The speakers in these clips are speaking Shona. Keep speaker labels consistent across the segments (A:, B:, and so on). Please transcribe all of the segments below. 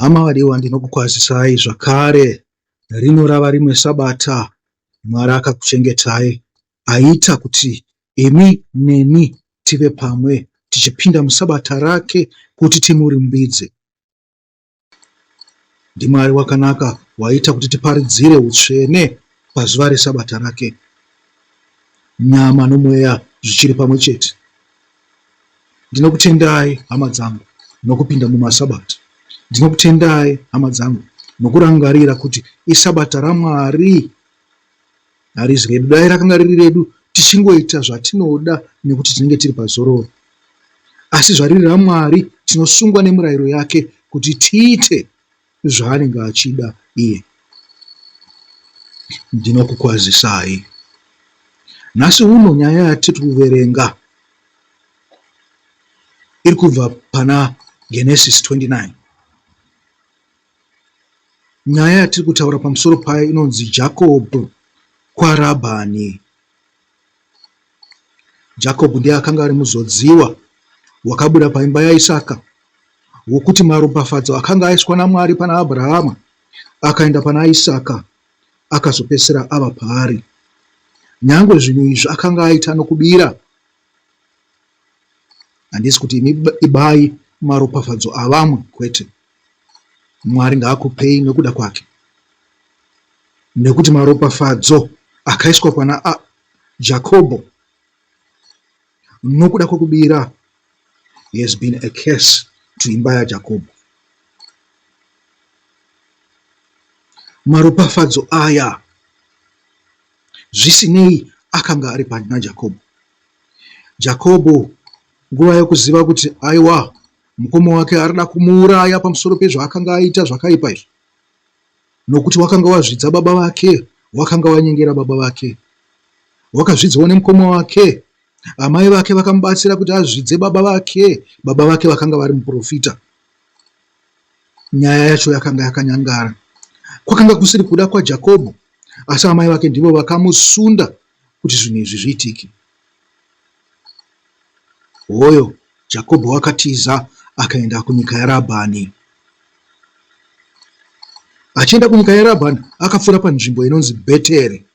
A: Hama vadiwa, ndinokukwazisai zvakare, rino rava rimwe Sabata Mwari akakuchengetai, aita kuti imi neni tive pamwe tichipinda muSabata rake kuti timurumbidze. ndiMwari wakanaka waita kuti tiparidzire utsvene pazuva reSabata rake, nyama nomweya zvichiri pamwe chete. Ndinokutendai hama dzangu nokupinda mumaSabata. Ndinokutendai hama dzangu nokurangarira kuti iSabata raMwari. Harizi redu, dai rakanga riri redu tichingoita zvatinoda nekuti tinenge tiri pazororo. Asi zvariri raMwari, tinosungwa nemurayiro yake kuti tiite zvaanenge achida iye. Ndinokukwazisai nhasi uno nyaya yatiri kuverenga iri kubva pana Genesis 29. Nyaya yatiri kutaura pamusoro payo inonzi Jakobho kwaRabhani. Jakobho ndiye akanga ari muzodziwa wakabuda paimba yaIsaka, wokuti maropafadzo akanga aiswa naMwari pana Abrahama akaenda pana Isaka akazopedzisira ava paari. Nyange zvinhu izvi akanga aita nokubira handisi kuti imi ibai maropafadzo avamwe kwete mwari ngaakupei nekuda kwake nekuti maropafadzo akaiswa kwana a jakobho nokuda kwekubira has been a case to imba yajakobho maropafadzo aya Zvisinei, akanga ari pari naJakobo. Jakobo, nguva yokuziva kuti aiwa mukoma wake arida kumuuraya pamusoro pezvaakanga aita zvakaipa izvi, nokuti wakanga wazvidza baba vake, wakanga wanyengera baba vake, wakazvidzwa nemukoma wake. Amai vake vakamubatsira kuti azvidze baba vake. Baba vake vakanga vari muprofita. Nyaya yacho yakanga yakanyangara. Kwakanga kusiri kuda kwaJakobho, asi amai vake ndivo vakamusunda kuti zvinhu izvi zviitike. Hoyo Jakobho wakatiza akaenda kunyika yaRabhani. Achienda kunyika yaRabhani, akapfuura panzvimbo inonzi Bheteri.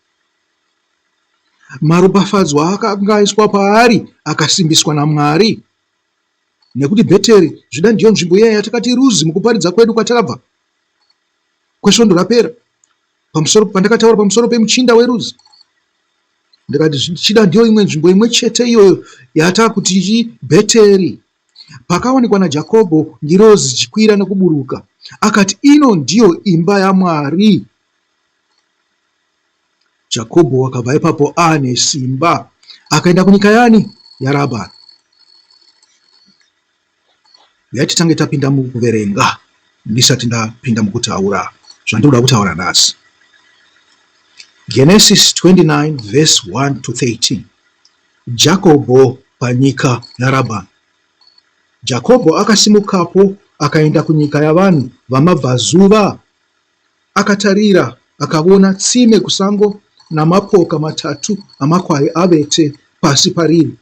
A: Maropafadzwa akanga aiswa paari akasimbiswa naMwari nekuti Bheteri Zvida ndiyo nzvimbo iya yatakati ruzi mukuparidza kwedu kwatakabva kwesvondo rapera pamusoro pandakataura pamusoro pemuchinda weruzi ndikati zvichida ndiyo imwe nzvimbo imwe chete iyoyo yatakuti ichi bheteri pakawanikwa najakobho ngirozi chikwira nekuburuka akati ino ndiyo imba yamwari Jakobho wakabva ipapo ane simba akaenda kunyika yani? YaRabhani. Uyai titange tapinda mukuverenga ndisati ndapinda mukutaura zvandinoda kutaura nhasi. Genesis 29 verse 1 to 13. Jakobho panyika yaRabhani. Jakobho akasimukapo akaenda kunyika yavanhu vamabvazuva Akatarira akavona tsime kusango namapoka matatu amakwai avete pasi pariri,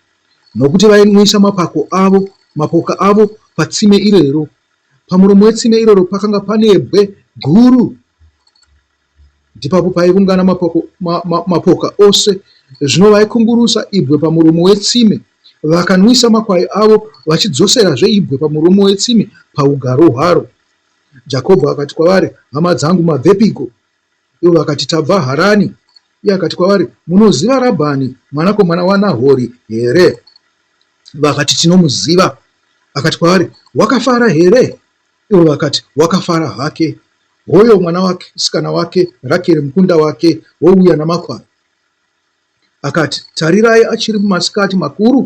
A: nokuti vainwisa mapako avo, mapoka avo patsime irero. Pamuromo wetsime iroro pakanga panebwe guru, ndipapo paivungana mapoko, ma, ma, mapoka ose. Zvino vaikungurusa ibwe pamuromo wetsime, vakanwisa makwai avo, vachidzoserazve ibwe pamuromo wetsime paugaro hwaro. Jakobho akati kwavari, Hama dzangu, mabvepiko? Ivo vakati, Tabva Harani. Iye akati kwavari, Munoziva Rabhani mwanakomana waNahori here? Vakati, Tinomuziva. Akati kwavari, Wakafara here? Ivo vakati, Wakafara hake. Hoyo mwana wake, sikana wake, Rakeri mukunda wake, wouya namakwai. Akati, Tarirai achiri mumasikati makuru,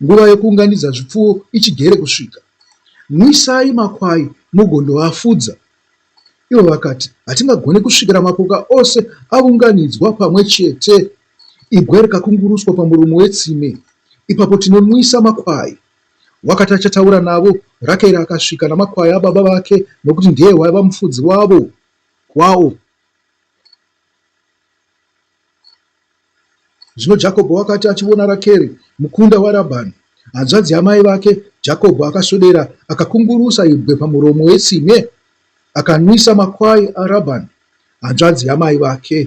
A: nguva yokuunganidza zvipfuwo ichigere kusvika. Nwisai makwai mugondoafudza. Ivo vakati, Hatingagone kusvikira mapoka ose avunganidzwa pamwe chete, ibwe rikakunguruswa pamuromo wetsime. Ipapo tinonwisa makwai. Wakati achataura navo, Rakeri akasvika namakwai ababa vake, nokuti ndiye waiva mufudzi wavo kwawo. Zvino Jakobho wakati achivona Rakeri, mukunda waRabhani, hanzvadzi yamai vake, Jakobho akaswedera akakungurusa ibwe pamuromo wetsime, akanwisa makwai aRabhani, hanzvadzi yamai vake.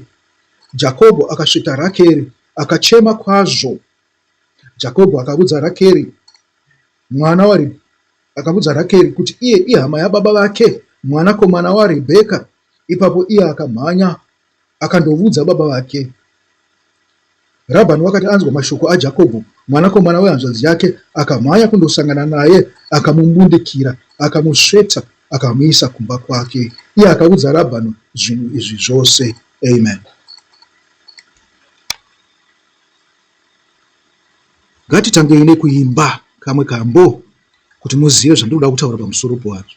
A: Jakobho akasveta Rakeri, akachema kwazvo. Jakobho akavudza Rakeri, mwana wari akavudza Rakeri kuti iye ihama yababa vake, mwanakomana waRebheka. Ipapo iye akamhanya akandoudza baba vake. Rabhani wakati anzwa mashoko aJakobho, mwanakomana wehanzvadzi yake, akamhanya kundosangana naye, akamumbundikira, akamusveta, akamuisa kumba kwake. Iye akaudza Rabhani zvinhu izvi zvose. Amen. Ngatitangei nekuimba kamwe kambo kuti muzive zvandinoda kutaura pamusoro pazvo.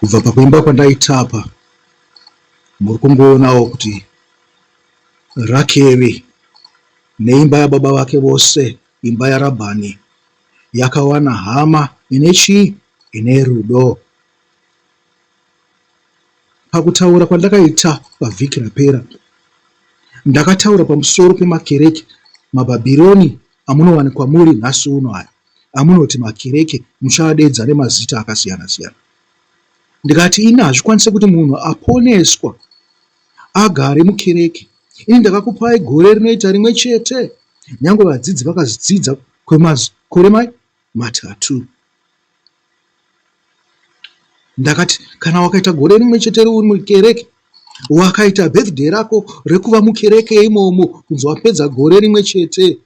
A: kubva pakuimba kwandaitapa muri kungoonawo kuti rakeri neimba yababa vake vose imba yarabhani yakawana hama ine chii ine rudo Pakutaura kwandakaita pavhiki rapera, ndakataura pamusoro pemakereke maBhabhironi amunowanikwa muri nhasi uno aya amunoti makereke muchaadeedza nemazita akasiyana-siyana. Ndikati ini hazvikwanise kuti munhu aponeswa agare mukereke. Ini ndakakupai gore rinoita rimwe chete, nyange vadzidzi vakazvidzidza kwemakore matatu. ndakati kana wakaita gore rimwe chete uri mukereke wakaita birthday rako rekuva mukereke imomo kunzi wapedza gore rimwe chete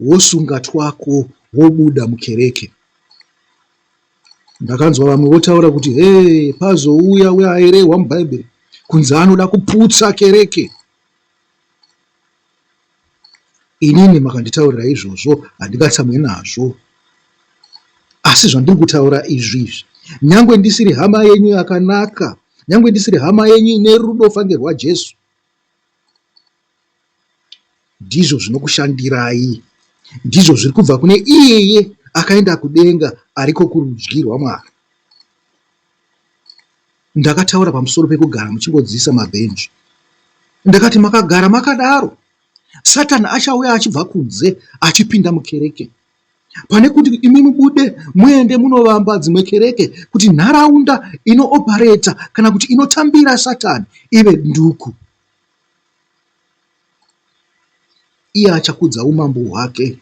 A: wosunga twako wobuda mukereke ndakanzwa vamwe votaura kuti he pazouya weairehwa mubhaibheri kunzi anoda kuputsa kereke Inini makanditaurira izvozvo handingatsamwe nazvo. Asi zvandiri kutaura izvi izvi, nyangwe ndisiri hama yenyu yakanaka, nyangwe ndisiri hama yenyu ine rudo fange rwaJesu, ndizvo zvinokushandirai, ndizvo zviri kubva kune iyeye akaenda kudenga ariko kurudyi rwaMwari. Ndakataura pamusoro pekugara muchingodziisa mabhenji. Ndakati, Makagara makadaro, Satani achauya achibva kunze achipinda mukereke. Pane kuti imi mubude muende munovamba dzimwe kereke kuti nharaunda inoopareta kana kuti inotambira Satani ive duku. iye achakudza umambo hwake.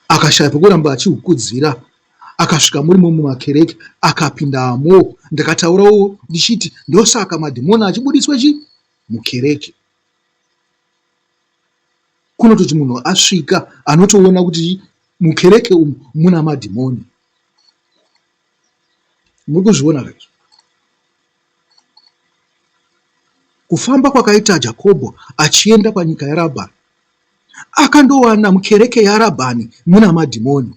A: Akashaya pekuramba achihukudzira akasvika muri mumwe makereke akapindamo. Ndakataurawo ndichiti ndosaka madhimoni achibudiswa chi mukereke kunototi munhu asvika anotoona kuti mukereke umu muna madhimoni muri kuzviona kaizvo Kufamba kwakaita Jakobho achienda panyika yaRabhani, akandowana mukereke yaRabhani muna madhimoni.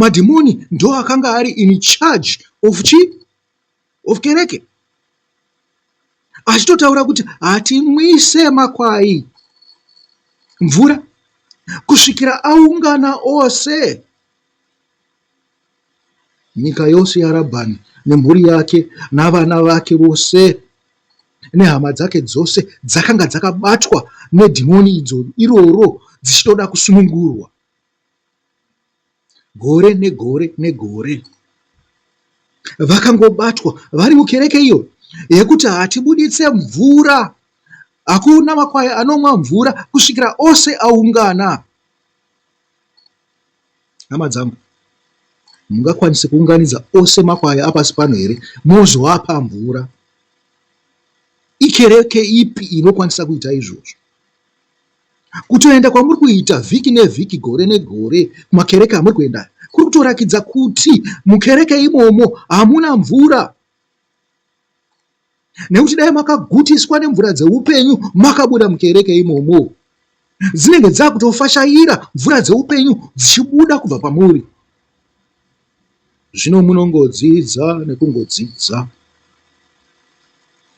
A: Madhimoni ndo akanga ari in charge of chi of kereke, achitotaura kuti hatimwise makwai mvura kusvikira aungana ose. Nyika yose yaRabhani nemhuri yake navana vake vose nehama dzake dzose dzakanga dzakabatwa nedhimoni idzo iroro dzichitoda kusunungurwa gore negore negore vakangobatwa vari mukereke iyo yekuti hatibuditse mvura hakuna makwai anomwa mvura kusvikira ose aungana Hama dzangu, hamungakwanise kuunganidza ose makwai apasi pano here mozoapa mvura? Ikereke ipi inokwanisa kuita izvozvo? Kutoenda kwamuri kuita vhiki nevhiki, gore negore, kumakereke amuri kuenda kuri kutorakidza kuti mukereke imomo hamuna mvura. nekuti dai makagutiswa nemvura dzeupenyu makabuda mukereke imomo dzinenge dzakutofashaira mvura dzeupenyu dzichibuda kubva pamuri zvino munongodzidza nekungodzidza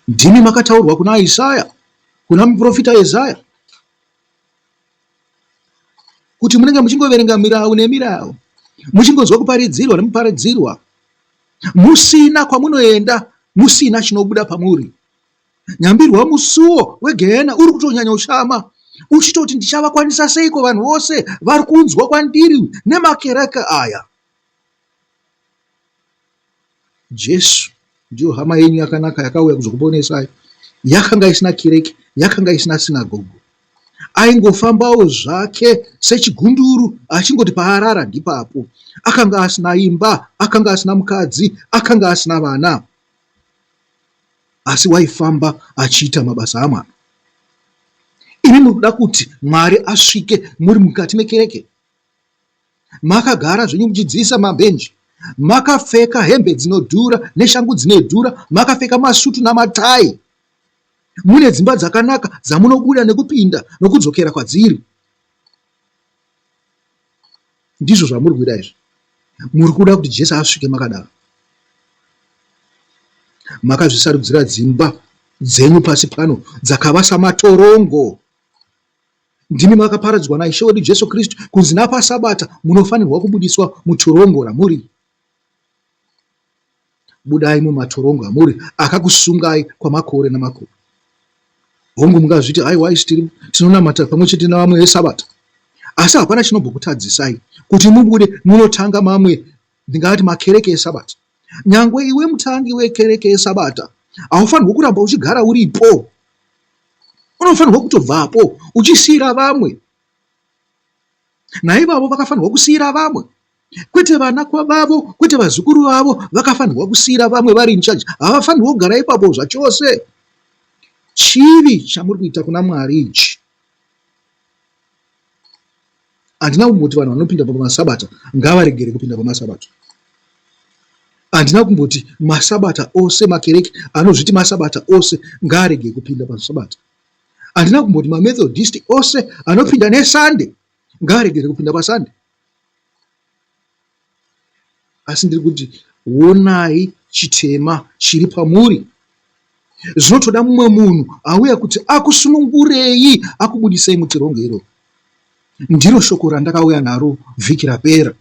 A: ndimi makataurwa kuna isaya kuna muprofita isaya kuti munenge muchingoverenga mirau nemirau muchingonzwa kuparidzirwa nemuparidzirwa musina kwamunoenda musina chinobuda pamuri nyambirwa musuwo wegehena uri kutonyanya ushama uchitoti ndichavakwanisa seiko vanhu vose vari kunzwa kwandiri nemakereke aya Jesu ndiyo hama yenyu yakanaka yakauya kuzokuponesai. Yakanga isina kireke, yakanga isina sinagogo. Aingofambawo zvake sechigunduru achingoti paarara ndipapo. Akanga asina imba, akanga asina mukadzi, akanga asina vana. Asi waifamba achiita mabasa amwana. Imi muri kuda kuti Mwari asvike muri mukati mekereke? Makagara zvenyu muchidziisa mabhenji, makapfeka hembe dzinodhura neshangu dzinedhura, makapfeka masutu namatai. Mune dzimba dzakanaka dzamunobuda nekupinda nokudzokera kwadziri. Ndizvo zvamuri kuita izvi. Muri kuda kuti Jesu asvike makadaro. Makazvisarudzira dzimba dzenyu pasi pano dzakava samatorongo. Ndimi makaparadzwa naIshe wedu Jesu Kristu kunzi napaSabata munofanirwa kubudiswa mutorongo ramuri. Budai mumatorongo amuri akakusungai kwamakore namakore. Hongu, mungazviti haiwai tiri tinonamata pamwe chete navamwe veSabata, asi hapana chinombokutadzisai kuti mubude munotanga mamwe ndingati makereke esabata nyangwe iwe mutangi wekereke yesabata haufanirwe kuramba uchigara uripo unofanirwa kutobvapo uchisiyira vamwe naivavo vakafanirwa kusiyira vamwe kwete vana kwavavo kwete vazukuru vavo vakafanirwa kusiyira vamwe vari incharge havafanirwa kugara ipapo zvachose chivi chamuri kuita kuna mwari ichi Handina kumboti vanhu vanopinda pamasabata ngavaregere kupinda pamasabata. Handina kumboti masabata ose makereke anozviti masabata ose ngaarege kupinda pasabata. Handina kumboti mamethodist ose anopinda nesande ngaaregere kupinda pasande. asi ndiri kuti wonai chitema chiri pamuri zvinotoda mumwe munhu auya kuti akusunungurei akubudisei mutirongo iro ndiro shoko randakauya naro vhiki rapera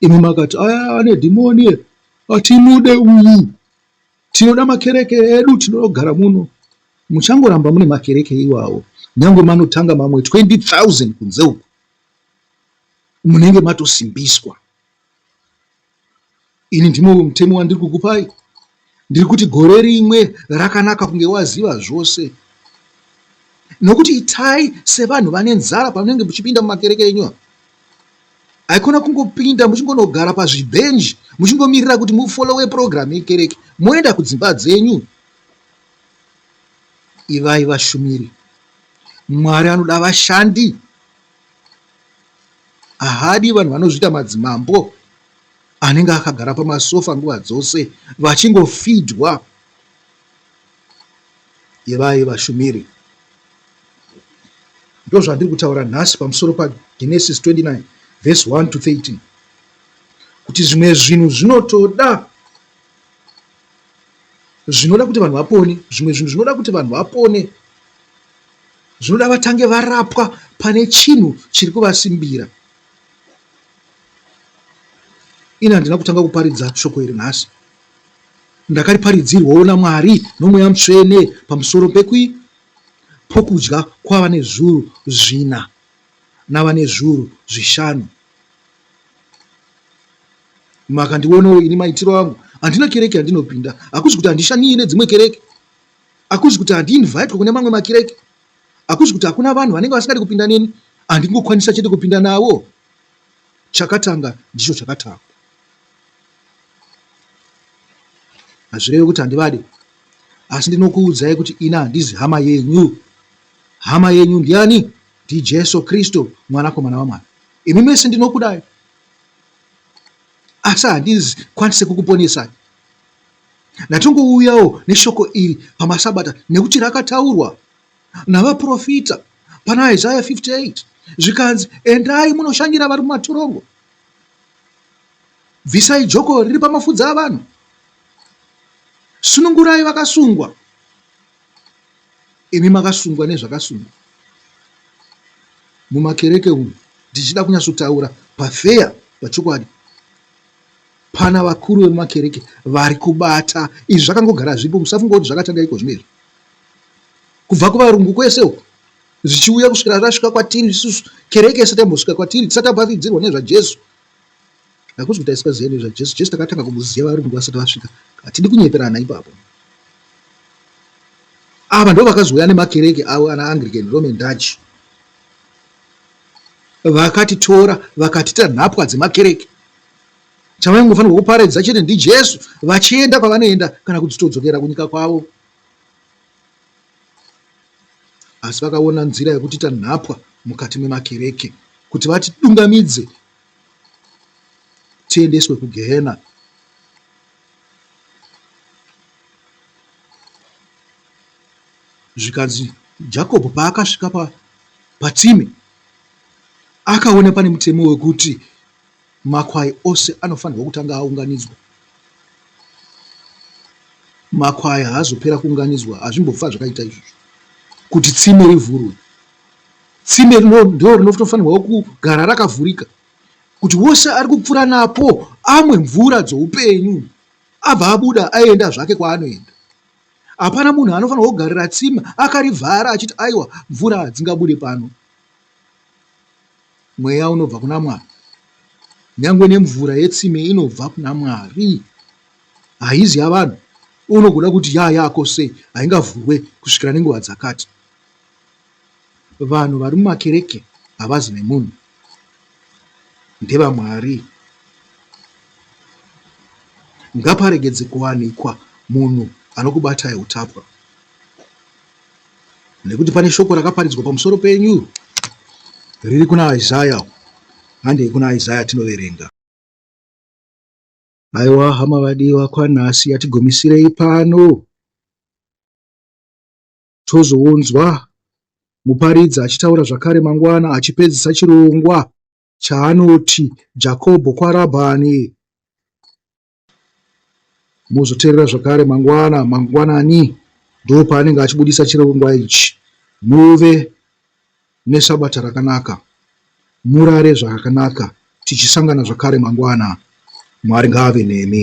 A: imi makati aya ane dhimoni atimude uyu tinoda makereke edu tinogara muno muchangoramba mune makereke iwawo nyange manotanga mamwe 20 000 kunze uku munenge matosimbiswa. Ini ndimwe mutemo wandiri kukupai, ndiri kuti gore rimwe rakanaka kunge waziva zvose, nokuti itai sevanhu vane nzara pamunenge muchipinda mumakereke enyu ava haikona kungopinda muchingonogara pazvibhenji muchingomirira kuti mufolowe purogiramu yekereke moenda kudzimba dzenyu ivai vashumiri Mwari anoda vashandi, haadi vanhu vanozviita madzimambo anenge akagara pamasofa nguva dzose vachingofidwa yevai vashumiri. Ndozvandiri kutaura nhasi pamusoro paGenesis 29 verse 1 to 13 kuti zvimwe zvinhu zvinotoda zvinoda kuti vanhu vapone zvimwe zvinhu zvinoda kuti vanhu vapone zvinoda vatange varapwa pane chinhu chiri kuvasimbira ini handina kutanga kuparidza shoko iri nhasi ndakariparidzirwawo namwari nomweya mutsvene pamusoro pekui pokudya kwavane zvuru zvina navane zvuru zvishanu Makandionawo ini maitiro angu, handina kereke yandinopinda. Hakuzi kuti handishanyire dzimwe kereke, hakuzi kuti handiinvaitwe kune mamwe makereke, hakuzi kuti hakuna vanhu vanenge vasingadi kupinda neni, handingokwanisa chete kupinda navo. Chakatanga ndicho chakatanga. Hazvireve kuti handivade, asi ndinokuudzai kuti ini handizi hama yenyu. Hama yenyu ndiani? NdiJesu Kristu, Mwanakomana waMwari. Imi mese ndinokudai. asi handizikwanise kukuponesai. Ndatongouyawo neshoko iri pamasabata nekuti rakataurwa navaprofita pana Isaya 58 zvikanzi, endai munoshanyira vari mumatororo, bvisai joko riri pamafudzi avanhu, sunungurai vakasungwa. imi makasungwa nezvakasungwa mumakereke umu ndichida kunyatsotaura pafeya pachokwadi pana vakuru vemumakereke vari kubata izvi zvakangogara zvipo musafunga kuti zvakatanga iko zvino izvi kubva kuvarungu kwese uko zvichiuya kusvira zvasvika kwatiri isusu kereke isati yambosvika kwatiri tisati tabavidzirwa nezvajesu Hakusi kuti taisaziva nezvaJesu. Jesu takatanga kumuziva varungu vasati vasvika. Hatidi kunyeperana ipapo. Ava ndo vakazouya nemakereke avo ana Anglican, Roman Dutch. Vakatitora vakatita nhapwa dzemakereke. Chavaingofanirwa kuparadza chete ndiJesu vachienda kwavanoenda kana kuti todzokera kunyika kwavo. asi vakaona nzira yekutiita nhapwa mukati memakereke kuti vatidungamidze tiendeswe kugehena zvikanzi jacob paakasvika pa, patsime akaona pane mutemo wekuti Makwai ose anofanirwa kutanga aunganidzwa. Makwai haazopera kuunganidzwa, hazvimbofa zvakaita izvozvo kuti tsime rivhurwe. Tsime ndiro rinofanirwa kugara rakavhurika kuti wose ari kupfuura napo amwe mvura dzoupenyu abva abuda aenda zvake kwaanoenda. Hapana munhu anofanirwa kugarira tsime akarivhara achiti aiwa mvura hadzingabude pano. mweya unobva kuna mwari nyangwe nemvura yetsime inobva kuna mwari haizi yavanhu unogona kuti yaa yako sei haingavhurwe kusvikira nenguva dzakati vanhu vari mumakereke havazi nemunhu ndevamwari ngaparegedze kuwanikwa munhu anokubatai utapwa nekuti pane shoko rakaparidzwa pamusoro penyu riri kuna Isaya. Handei kuna Isaya tinoverenga. Aiwa hama vadiwa, kwanhasi yatigomisirei pano tozounzwa muparidzi achitaura zvakare mangwana achipedzisa chirongwa chaanoti Jakobho kwaRabhani. Mozoteerera zvakare mangwana mangwanani ndopaanenge achibudisa chirongwa ichi. Muve nesabata rakanaka. Murare zvakanaka tichisangana zvakare mangwana. Mwari ngaave nemi.